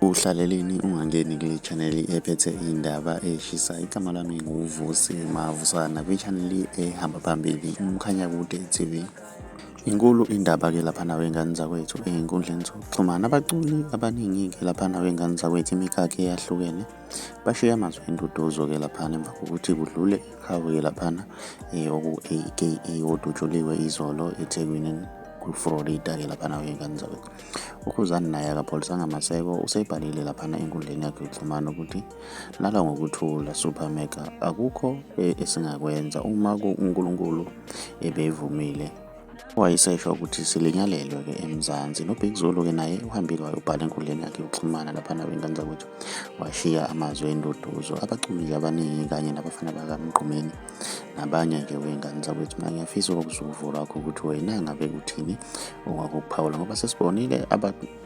Uhlaleleni ungangeni kule chaneli ephethe indaba eshisa igama lami nguvusi mavusana kwichaneli ehamba phambili umkhanya kude tv inkulu indaba-ke laphana wey'ngane zakwethu ey'nkundleni zokuxhumana abaculi abaningi-ke laphana wey'ngane zakwethu imikhakha eyahlukene bashiye amazwi enduduzo-ke laphana emva kokuthi kudlule iqhawe-ke laphana eh, oku-aka odutshuliwe izolo ethekwini kuflorida-ke laphana wey'ngane zakwethu UKhuzani naye akapholisanga maseko useyibhalile laphana enkundleni yakhe yokuxhumana ukuthi lala ngokuthula super mega akukho e, esingakwenza uma uNkulunkulu ebevumile wayesesho ukuthi silinyalelwe ke eMzansi noBig Zulu ke naye uhambile wayobhala enkundleni yakhe yokuxhumana laphana kwinkanza ukuthi washiya amazwi enduduzo abaculi abaningi kanye nabafana bakamgqumeni nabanye-ke wey'ngane zakwethu mina ngiyafisa ukuzwa uvo lwakho ukuthi wena ngabe kuthini ongakuphawula ngoba sesibonile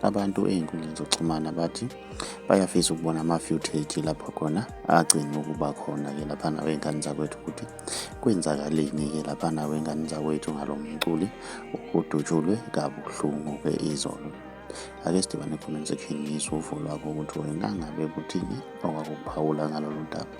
abantu ey'nkundleni zokuxhumana bathi bayafisa ukubona ama-footage lapho khona agcine ukuba khona-ke laphana wey'ngane zakwethu ukuthi kwenzakaleni-ke laphana wey'ngane zakwethu ngalo mculi udutshulwe kabuhlungu-ke izolo ake sidibane comment section ngizwe uvo lwakho ukuthi wena ngabe kuthini ongakuphawula ngalolu daba